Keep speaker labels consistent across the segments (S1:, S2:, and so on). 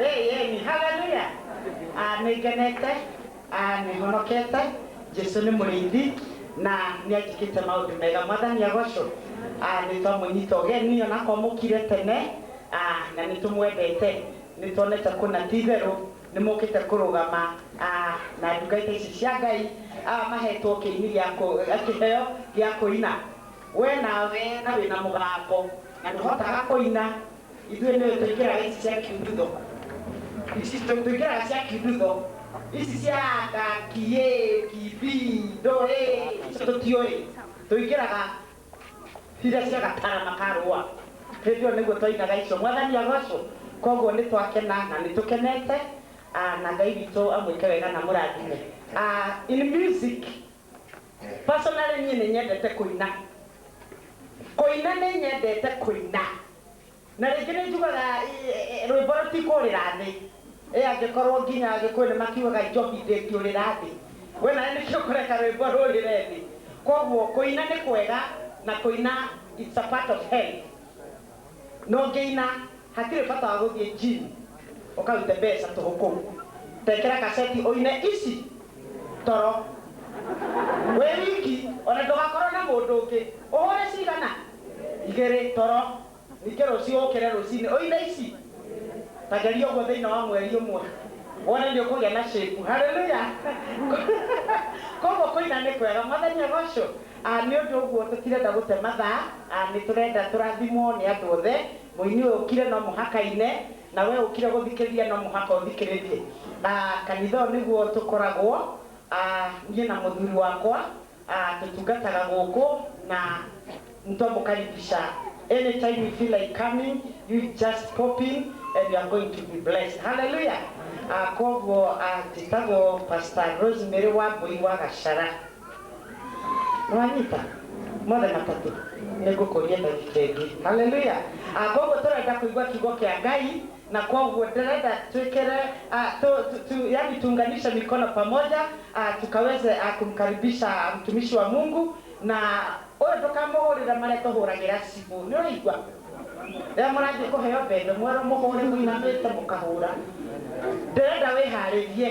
S1: Ĩĩni, haleluya! Ah, nĩngenete, ah, nĩhonokete, Jesu nĩ mũrĩithi na nĩanjĩkĩte maũndũ mega. Mwathani agocwo. Ah, nĩtwamũnyita ũgeni ona korwo mũkire tene, ah, na nĩtũmwendete, nĩtuonete kũna ti itherũ nĩmũkĩte kũrũgama, ah, na ndungata ici cia Ngai, ah, mahetwo kĩini gĩa kũ, kĩheo gĩa kũina. We nawe na wĩna mũgambo na ndũhotaga kũina, ithuĩ nĩwe tũikĩraga ici cia kiundudo ici tũ- tũikĩraga cia kiundudo ici cia anga kiĩ kibi ndũĩ icio tũtiũĩ tũikĩraga iria cia gatara makarũa hĩndĩ ĩyo nĩguo twainaga icio mwathani agocwo koguo nĩ twakena na nĩ tũkenete Ah, na ngai witũ amwĩke wega na mũrathime Ah, in music Personally niĩ nĩnyendete kũina. Kũina nĩnyendete kũina. Na rĩngĩ nĩnjugaga rwĩmbo rũtikũrĩra thĩ. Ĩ angĩkorwo nginya Agĩkũyũ nĩmakiugaga njohi ndĩngĩũrĩra thĩ? We nawe nĩkĩ ũkũreka rwĩmbo rũrĩre thĩ? Kuoguo kũina nĩ kwega na kũina it's a part of health. No ngĩina hatirĩ bata wa gũthiĩ gym ũkarute mbeca tũhũ kũu. Ta ĩkĩra kaseti ũine ici toro wĩ wiki ona ndũgakorwo na mũndũ ũngĩ. Ũhũre cigana? Igĩrĩ toro. Ningĩ rũciũ ũkĩre rũcinĩ ũine ici. Ta geria ũguo thĩinĩ wa mweri ũmwe wone nĩ ũkũgĩa na shape. Hallelujah! Kwoguo kũina nĩ kwega. Mwathani agocwo. A Nĩ ũndũ ũguo tũtirenda gũte mathaa, a nĩ tũrenda tũrathimwo nĩ andũ othe. Mũini ũyũ ũkire no mũhaka aine, na we ũkire gũthikĩrĩria no mũhaka ũthikĩrĩrie. A Kanitha ũyũ nĩguo tũkoragwo, a niĩ na mũthuri wakwa, a tũtungataga gũkũ na mtu wa kukaribisha any time you feel like coming, you just pop in and you are going to be blessed. Hallelujah! A Kwoguo a njĩtagwo Pastor Rosemary Wambui wa Gacĩra. nĩwanyita mothe matatũ nĩngũkũria ndagĩka ĩngĩ haleluya Ah, koguo tũrenda kũigua kiugo kĩa ngai na koguo ndĩrenda twĩkĩre ah, tu- tu- tu- yani tuunganishe mikono pamoja ah, tukaweze ah, kumkaribisha mtumishi wa mungu na ũyũ ndũkamũhũrĩre marĩa tũhũragĩra cibũ nĩ ũraigua rĩrĩa mũrathiĩ kũheo mbembe mwerwo mũhũre mũinamĩte mũkahũra ndĩrenda wĩharĩrie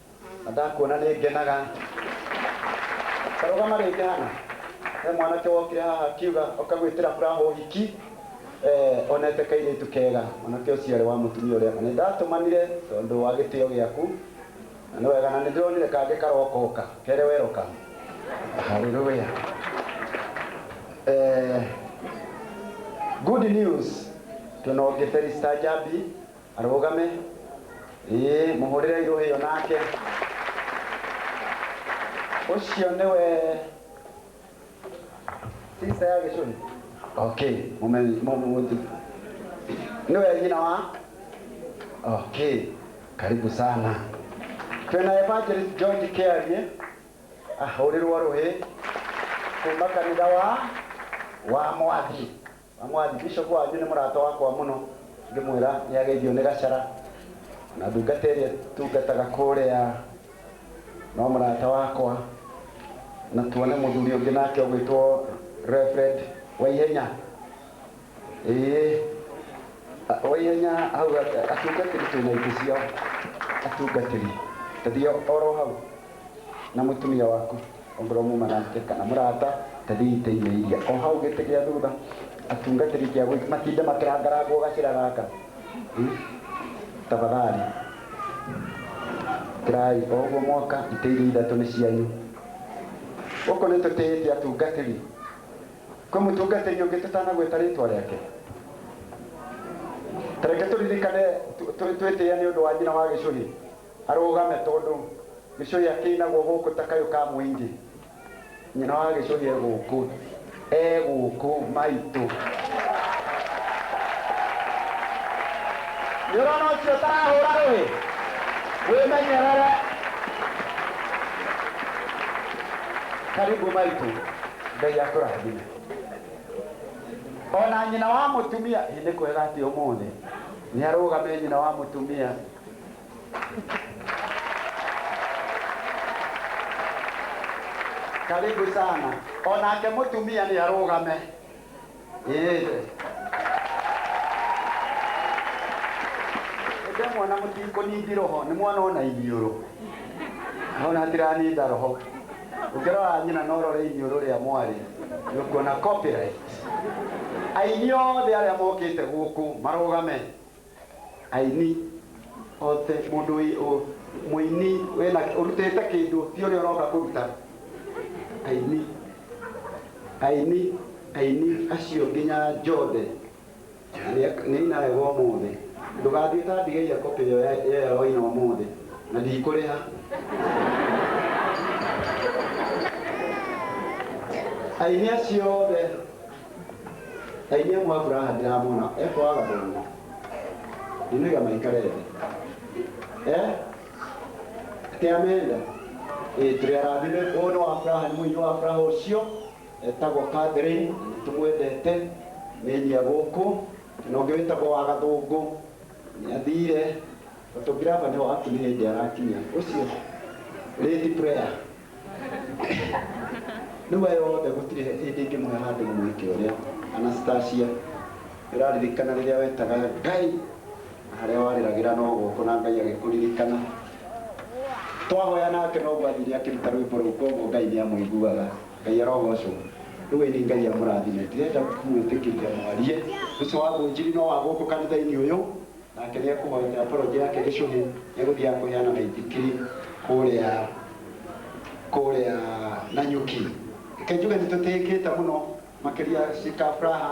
S1: Na ndakuona nĩ ngenaga. Ta rũgama rĩngĩ hana. He mwanake wokire haha akiuga oka gwĩtĩra Muraho ũhiki, eh, onete kairĩtu kega. Mwanake ũcio arĩ wa mũtumia ũrĩa. Na nĩ ndatũmanire tondũ wa gĩtĩo gĩaku. Na nĩ wega. Na nĩ ndĩronire kangĩ karoka oka. Kerĩ welcome. Hallelujah. Eh, good news. Twĩna ũngĩ Felista Njambi. Arũgame. Ĩĩ, mũhũrĩre irũhĩ ĩyo nake. Ũcio nĩwe sister ya Gĩcũhĩ? Okay, mũmenye mũmũthi. Nĩwe nyina wa? Okay, karibu sana. Twĩna Evangelist George Kĩarie ahũrĩrwo rũhĩ kuma kanitha wa wa Mwathi. Na mũathibishop wanyu nĩ mũrata wakwa mũno, ngĩmwĩra nĩ ageithio nĩ Gacĩra, o na ndungata ĩrĩa ĩtungataga kũrĩa no mũrata wakwa, na tuone mũthuri ũngĩ nake ũgwĩtwo Reverend Waihenya, ĩĩ, Waihenya hau, atungatĩri twĩna itĩ ciao, atungatĩri, ta thiĩ oro hau. na mũtumia waku, ongorwo muma nake, kana mũrata, tathii itĩ-inĩ iria o hau gĩtĩ gĩa thutha, atungatĩri kĩa gũik, matinde makĩrangarangwo gacĩra gaka. Hmm? Tafadhali. Kĩrai o ũguo mwoka, itĩ iria ithatũ nĩ cianyu. Gũkũ nĩ tũtĩĩte atungatĩri. Kwĩ mũtungatĩri ũngĩ tũtanagwĩta rĩtwa rĩake? Tareke tũririkane twĩtĩĩa nĩ ũndũ wa nyina wa gĩcũhĩ. Arũgame tondũ Gĩcũhĩ akĩrĩ naguo gũkũ ta kayũ ka mũingĩ. Nyina wa Gĩcũhĩ e gũkũ, e gũkũ, maitũ. Nĩ ũrona ũcio ũtarahũra rũhĩ? Wĩmenyerere. Karibu maitũ. Ngai akũrathime. O na nyina wa mũtumia, ĩ nĩ kwega atĩ ũmũthĩ nĩ arũgame nyina wa mũtumia. karibu sana onake mũtumia nĩ arũgame Ĩĩ. ndemwona mũtikũningi roho nĩ mwana ona iniũrũ ona tiraninda roho ũngĩrora nyina na ũrore iniũrũ rĩa mwarĩ nĩũkuona copyright aini othe arĩa mokĩte gũkũ marũgame Aini othe mũndũ wĩ ũ mũini wĩna ũrutĩte kĩndũ ti ũrĩa ũroka kũruta aini aini aini acio nginya njothe nĩ aina wega ũmũthĩ ndũgathiĩ ta ndigeire kopĩ ĩyo ya ya ya waina ũmũthĩ na ndikũrĩha aini acio othe ta inyuĩ mwa furaha ndiramona ekwaga thĩna ndinega maikare thĩ eh kĩamenda eh tũrĩ arathime ũyũ nĩ wa furaha nĩ mũini wa furaha ũcio etagwo Catherine nĩ tũmwendete nĩ nyia gũkũ na ũngĩ wĩtagwo wa gathũngũ nĩ athire photographer nĩ wakinya hĩndĩ arakinya ũcio lady prayer Nĩma yothe gũtirĩ hĩndĩ ingĩmũhe handũ mũhiki ũrĩa. Anastasia, Nĩũraririkana rĩrĩa wetaga Ngai na harĩa warĩragĩra no gũkũ na Ngai agĩkũririkana? Twahoya nake noguo athire akĩruta rwĩmbo rũu kwoguo Ngai nĩamũiguaga. Ngai arogocwo. Rĩu ĩni Ngai amũrathime. Ndirenda kũmwĩtĩkĩria mwarie. Ũcio wa mũnjiri no wa gũkũ kanitha-inĩ ũyũ? Nake nĩekũhoyokera porojĩ yake gĩcũhĩ, nĩegũthiaga kũheana maithikiri kũrĩa kũrĩa Nanyuki. Reke njuge nĩtũtĩĩkĩte mũno, makĩria Shika Fraha,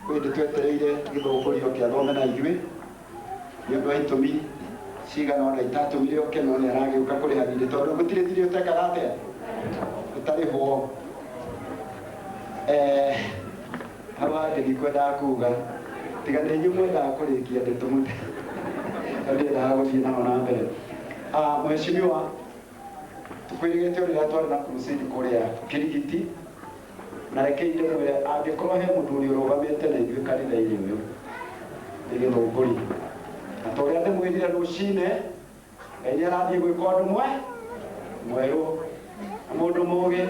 S1: kwĩ hĩndĩ twetereire gĩthũngũri oke athome na ithuĩ, nĩ ũndũ wa itũmi cigana ũna itatũmire oke, no nĩaragĩũka kũrĩha thirĩ, tondũ rĩu gũtirĩ thirĩ ũtekaga atĩa? ũtarĩhwo. Eeh. Hau hangĩ ndikwendaga kuuga, tiga nĩ inyuĩ mwendaga kũrĩkia ndeto mũte, na ndiendaga gũthiĩ naho na mbere. Ah, Mheshimiwa, tũkwĩrĩgĩte o rĩrĩa twarĩ na crusade kũrĩa Kĩrigiti, na rekei ndĩmwĩre angĩkorwo he mũthuri ũrũgamĩte na ithuĩ kanitha-inĩ ũyũ nĩ Gĩthũngũri, na ta ũrĩa ndĩmwĩrire rũcinĩ, Ngai nĩ arathiĩ gwĩka ũndũ mwe mwerũ na mũndũ mũũgĩ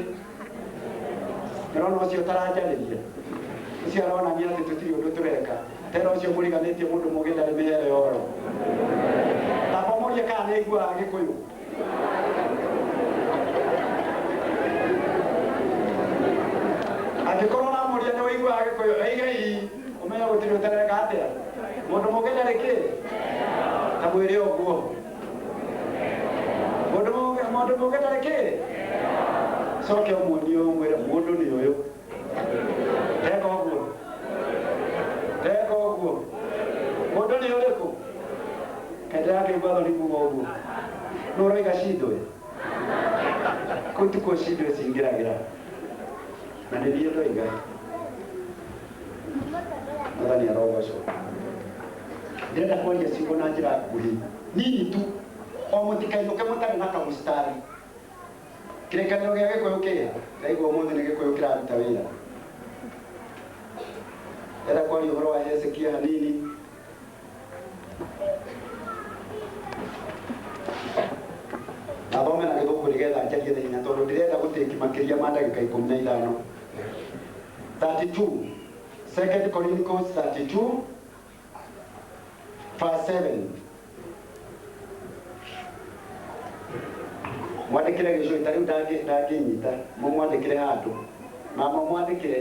S1: ndĩrona ũcio ũtaranjarĩria ũcio aronania atĩ tũtirĩ ũndũ tũreka tena ũcio mũriganĩtie mũndũ mũũgĩ ndarĩ mĩhere ya ũhoro tamba mũrie kana nĩ aiguaga gĩkũyũ angĩkorwo ũramũria nĩ ũiguaga gĩkũyũ aigei Ũmenye gũtirĩ ũtareka atĩa. Mũndũ mũgĩ ndarĩ kĩ? Na mwĩrĩ ũguo. Mũndũ mũgĩ mũndũ mũgĩ ndarĩ kĩ? Coke ũmuonie ũmwĩre mũndũ nĩ ũyũ. Teka ũguo. Teka ũguo. Mũndũ nĩ ũrĩkũ? Kende yake igwatho nĩ kuga ũguo. Nũ ũroiga cindwe? Kũu tikuo cindwe cingĩragĩra. Na nĩ niĩ ndoiga, Mwathani arogocwo. Ndĩrenda kũaria ciugo na njĩra nguhĩ nini tu, o mũtikainũke mũtarĩ na kamũcitari. Kĩrĩkanĩro gĩa Gĩkũyũ kĩrĩa ndaigua ũmũthĩ nĩ Gĩkũyũ kĩraruta wĩra. Ndĩrenda kwaria ũhoro wa Hezekia hanini. athome na gĩthũngũ nĩgetha njarie na hinya tondũ ndĩrenda gũtĩki makĩria ma ndagĩka ikũmi na ithano 32 second Chronicles 32 verse 7 mwandĩkĩre gĩcũĩ ta rĩu ndangĩ- ndangĩnyita mũmwandĩkĩre handũ na mamwandĩkĩre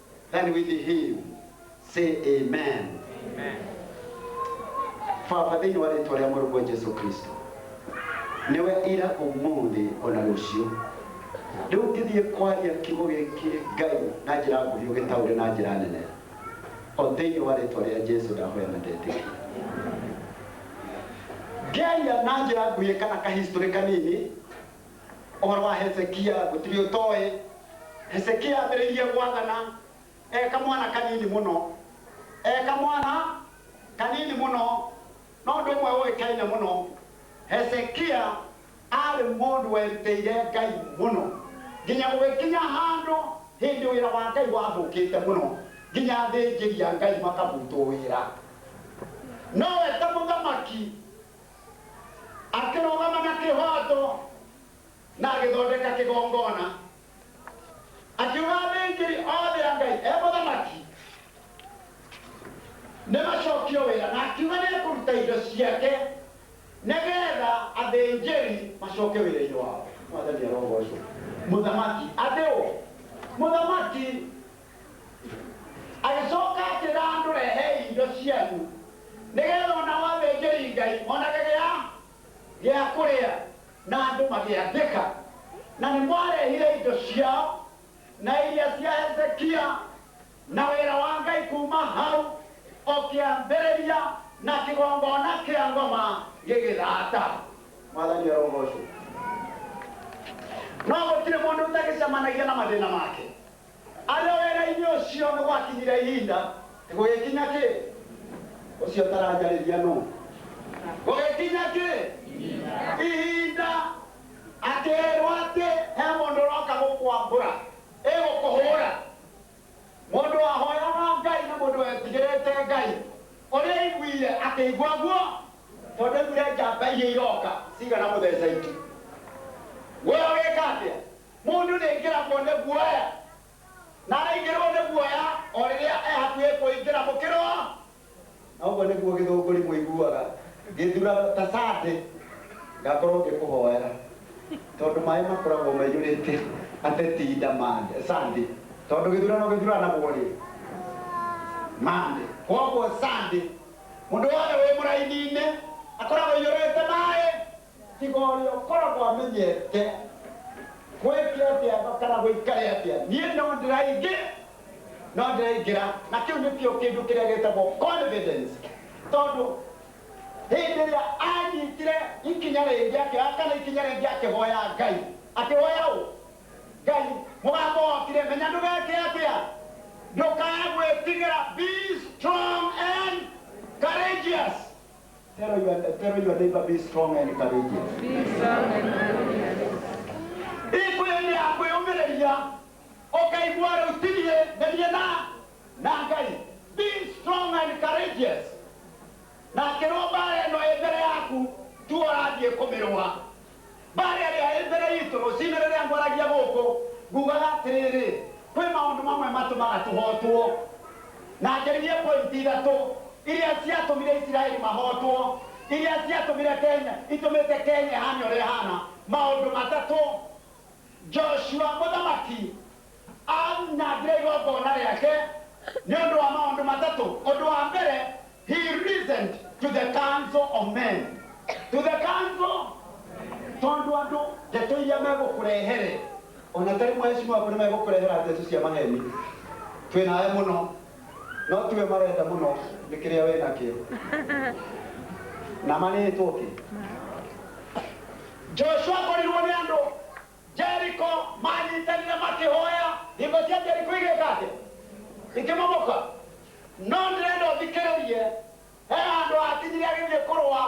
S1: And with him, say amen. Baba thĩinĩ wa rĩtwa rĩa mũrũguo Jesu Kristo nĩwe ira ũmũthĩ ona rũciũ rĩu ngĩthiĩ kwaria kiugo gĩkĩ ngai na njĩra nguhĩ ũgĩtaũre na njĩra nene o thĩinĩ wa rĩtwa rĩa Jesu ndahoya na ndetĩkia ngĩaria na njĩra nguhĩ kana kahistorĩ kanini Ũhoro wa Hezekia gũtirĩ ũtoĩ. Hezekia ambĩrĩirie gwathana e kamwana kanini mũno. E kamwana kanini mũno. No ũndũ ũmwe ũĩkaine mũno, Hezekia aarĩ mũndũ werutĩire Ngai mũno nginya gũgĩkinya handũ hĩndĩ wĩra wa Ngai wathũkĩte mũno nginya athĩnjĩri a Ngai makabutwo wĩra. Nowe ta mũthamaki Akĩrũgama na kĩhooto na agĩthondeka kĩgongona, akiuga, Athĩnjĩri othe a Ngai, e mũthamaki, nĩmacokio wĩra, na akiuga nĩekũruta indo ciake nĩgeetha athĩnjĩri macoke wĩra-inĩ wao. Mwathani arogoocwo! Mũthamaki! Atĩ ũ? Mũthamaki! Agĩcooka akĩĩra andũ, Rehei indo cianyu, nĩgeetha o nao athĩnjĩri-Ngai monage gĩa gĩa kũrĩa. Na andũ magĩathĩka, na nĩmarehire indo ciao, na iria cia Hezekia, na wĩra wa Ngai kuuma hau o kĩambĩrĩria, na kĩgongona kĩa ngoma gĩgĩthaata. Mwathani arogoocwo! No gũtirĩ mũndũ ũtagĩcemanagia na mathĩĩna make. Arĩ o wĩra-inĩ ũcio nĩ gwakinyire ihinda gũgĩkinya kĩ? Ũcio ũtaranjarĩria nũ? Gũgĩkinya kĩ? Ihinda akĩĩrwo atĩ he mũndũ ũroka gũkwambũra, ĩ gũkũhũra. Mũndũ wahoyaga Ngai na mũndũ wetigĩrĩte Ngai, ũrĩa aiguire akĩigua guo tondũ aiguire njamba iria iroka cigana mũtheca itu. Guoya ũgĩka atĩa? Mũndũ nĩaingĩragwo nĩ guoya, na araingĩrwo nĩ guoya o rĩrĩa e hakuhĩ kũingĩra mũkĩro, na ũguo nĩguo gĩthũngũri mũiguaga gĩthurano ta Sunday, ngakorwo ngĩkũhoera, tondũ maĩ makoragwo maiyũrĩte ateti nda Monday, Sunday, tondũ gĩthurano gĩthuranagwo rĩ? Monday, koguo Sunday mũndũ wothe wĩ mũraini-inĩ akoragwo aiyũrĩte maĩ. Tiga ũrĩa ũkoragwo amenyete gwĩke atĩa kana gũikare atĩa. Niĩ no ndĩraingĩ, no ndĩraingĩra. Na kĩu nĩkĩo kĩndũ kĩrĩa gĩtagwo confidence. Tondũ hĩndĩ ĩrĩa anyitire ikinya rĩngĩ akĩoya kana ikinya rĩngĩ akĩhoya Ngai. Akĩhoya ũ? Ngai. Mũgambo wokire, menya ndũgeke atĩa? Ndũkae gwĩtigĩra, be strong and courageous. Tell your, tell your neighbor, be strong and courageous. ikwĩthĩ ya kwĩũmĩrĩria ũkaigua rĩu tirie nĩrie na na ngai be strong and courageous na kĩrwo mbara ĩno ĩ mbere yaku tu ũrathiĩ kũmĩrũa Barĩ arĩ aĩ mbere yitũ rũcinĩ rĩrĩa ngwaragia gũkũ, ngugaga atĩrĩrĩ, kwĩ maũndũ mamwe matũmaga tũhootwo. Na njaririe pointi ithatũ iria ciatũmire Isiraeli mahootwo, iria ciatũmire Kenya, itũmĩte Kenya ĩhaane ũrĩa ĩhaana. Maũndũ matatũ, Joshua mũthamaki Aanyangire igongona rĩake nĩ ũndũ wa maũndũ matatũ. Ũndũ wa mbere, he reasoned to the council of men. To the council, tondũ andũ ndeto iria megũkũrehere, o na ta rĩmwe acio maku nĩ megũkũrehera ndeto cia maheni, twĩ nawe mũno, no tiwe marenda mũno nĩ kĩrĩa wĩ nakĩo. Na ma nĩ tũkĩ. Joshua akorirwo nĩ andũ. Jeriko manyitanire makihoya. Hingo cia Jeriko igĩka atĩa? Ikĩmomoka. No ndĩrenda ũthikĩrĩrie, he handũ hakinyire agĩthiĩ kũrũa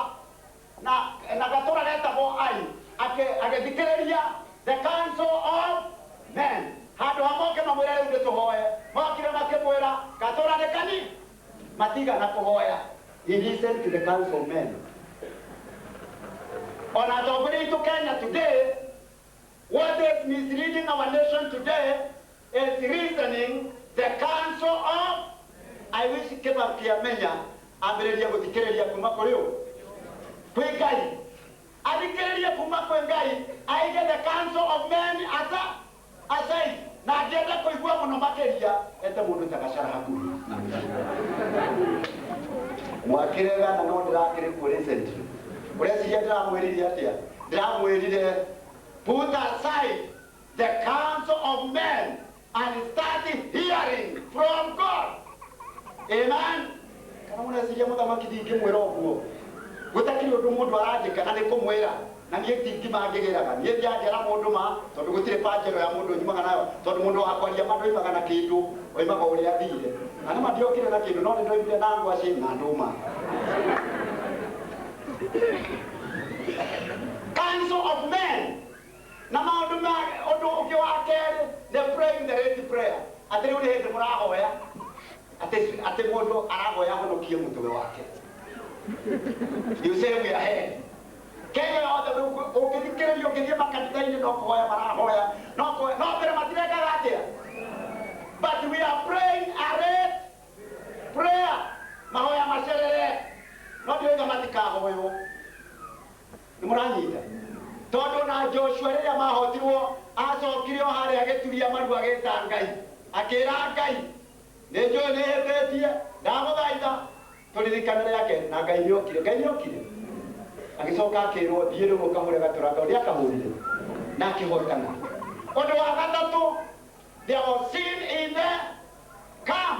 S1: na, na gatũra getagwo Ai. Akĩ, agĩthikĩrĩria the council of men. Handũ ha moke mamwĩre rĩu nĩtũhoe, mokire makĩmwĩra gatũra nĩ kanini. Matiga na kũhoya, he listened to the counsel of men. Ona atongoria aitũ Kenya today, what is misleading our nation today is reasoning the counsel of I wish kĩba kĩamenya ambĩrĩria gũthikĩrĩria kuma kũrĩ ũ kwĩ Ngai athikĩrĩrie kuma kwĩ Ngai aige the counsel of men asa Asei, na angĩenda kũigua mũno makĩria, ete mũndũ ta Gacĩra hakuhĩ. Mwakĩre gana no ndĩrakĩrĩ kuo recently. Ũreciria ndĩramwĩrire atĩa? Ndĩramwĩrire, put aside the counsel of men and start hearing from God. Amen. Kana mũreciria mũthamaki ndingĩmwĩra ũguo? Gũtakĩrĩ ũndũ mũndũ aranjĩka na nĩkũmwĩra, na niĩ ndingima ngĩgĩraga. Niĩ ndianjĩra mũndũ ma, tondũ gũtirĩ banjero ya mũndũ njumaga nayo, tondũ mũndũ wa kwaria ma ndoimaga na kĩndũ, oimaga o ũrĩa athiire. Na nĩ ma ndiokire na kĩndũ, no nĩndoimire na ngwacĩ na ndũma. Council of Men. Na maũndũ ma ũndũ ũngĩ wa kerĩ nĩ praying the right prayer. Atĩ rĩu nĩ hĩndĩ mũrahoya atĩ atĩ mũndũ arahoya ahonokie mũtwe wake. You say we are here. Kenya yothe rĩu kũ- ũngĩthikĩrĩria ũngĩthiĩ makanitha-inĩ no kũhoya marahoya no kũhoya no mbere matirekaga atĩa but we are praying a right prayer mahoya macerere no ndiũiga matikahoywo nĩ mũranyita tondũ ona joshua rĩrĩa mahotirwo acokire o harĩa agĩturia maru agĩta ngai akĩra ngai nĩ njũĩ nĩ hĩtĩtie ndagũthaitha tũririkane rĩa kerĩ na ngai nĩ okire ngai nĩ okire agĩcoka akĩrwo thiĩ rĩu ũkahũre gaturanga ũrĩa akahũrire na akĩhotana ũndũ wa gatatũ there was sin in the camp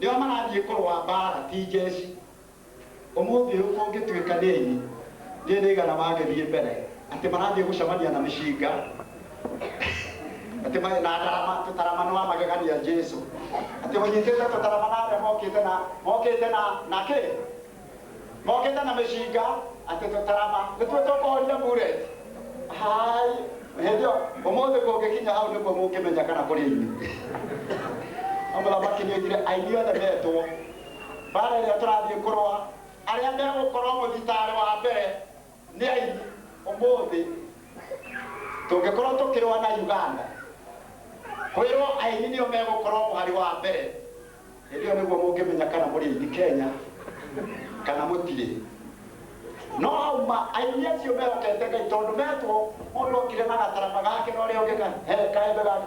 S1: Nĩo marathiĩ kũrũa mbaara ti njeshi. Ũmũthĩ ũyũ kũngĩtuĩka nĩ aini ndiũĩ nĩ aigana magĩthiĩ mbere atĩ marathiĩ gũcemania na mĩcinga atĩ marĩ na ndarama, tũtarama nĩ wa magegania Jesu. Atĩ ũnyitĩte tũtarama na arĩa mokĩte na mokĩte na na kĩ? Mokĩte na mĩcinga atĩ tũtarama nĩtuo tũkũhoria Bullet. Hai, hĩndĩ ĩyo ũmũthĩ kũngĩkinya hau nĩkuo mũngĩmenya kana kũrĩ aini. No mũthamaki nĩoigire aini othe metwo. Mbaara ĩrĩa tũrathiĩ kũrũa, arĩa megũkorwo mũthitaarĩ wa mbere. Nĩ aini ũmũthĩ. Tũngĩkorwo tũkĩrũa na Uganda, kwĩrwo aini nĩo megũkorwo mũhari wa mbere, hĩndĩ ĩyo nĩguo mũngĩmenya kana mũrĩ aini Kenya kana mũtirĩ. No hau ma, aini acio mehokete Ngai tondũ metwo mũndũ okire na gatarama gake na ũrĩa ũngĩ ka- he kaembe gake,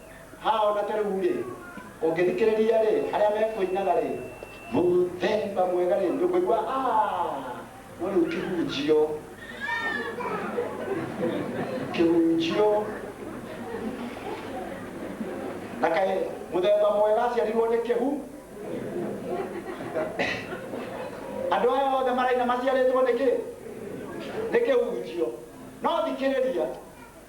S1: Ha o na ta rĩu-rĩ, ũngĩthikĩrĩria-rĩ, arĩa mekũinaga-rĩ, mũthemba mwega-rĩ, ndũkũigua aah! No rĩu kĩhunjio, kĩhunjio. Na kaĩ mũthemba mwega aciarirwo nĩ kĩhu? Andũ aya othe maraina maciarĩtwo nĩ kĩ? Nĩ kĩhunjio. No thikĩrĩria.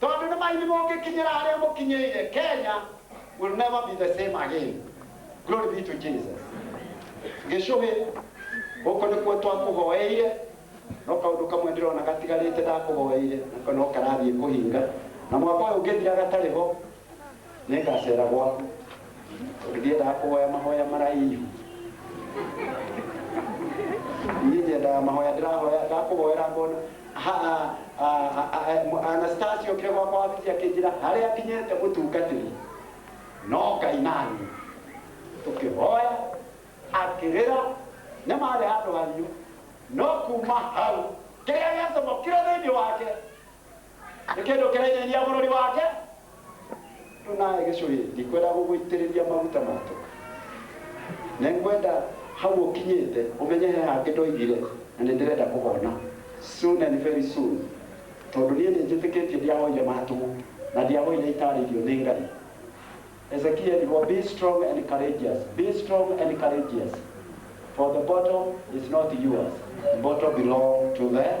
S1: Tondũ nĩmaini mũngĩkinyĩra harĩa mũkinyĩire, Kenya will never be the same again. Glory be to Jesus. Gĩcũhĩ, gũkũ nĩkuo twakũhoeire, no kaũndũ kamwe ndĩrona gatigarĩte ndakũhoeire, nako no karathiĩ kũhinga, na mwaka ũyũ ũngĩthira gatarĩ ho, Nĩngacera gwaku tondũ ndiendaga kũhoya mahoya maraihu. Niĩ nyendaga mahoya ndĩrahoya ndakũhoera ngona ha- a- a- a- a- Anastasi okire gwakwa wabici akĩnjĩra harĩa nginyĩte mũtungatĩri no Ngai naniĩ tũkĩhoya akĩrĩra nĩ marĩ handũ hahiũ no kuma hau kĩrĩa gĩacamũkire thĩinĩ wake Nĩ kĩndũ kĩrainainĩa bũrũri wake. Rĩu nawe gĩcũhĩ, ndikwenda gũgũitĩrĩria maguta ma toka. Nĩngwenda hau ũkinyĩte ũmenye he hangĩ ndoigire na nĩndĩrenda kũhona soon and very soon tondũ niĩ nĩnjĩtĩkĩtie ndiahoire ma tũhũ na ndiahoire itaarĩirio nĩ Ngai. Hezekia erirwo be strong and courageous, be strong and courageous for the bottle is not yours, the bottle belong to the Lord.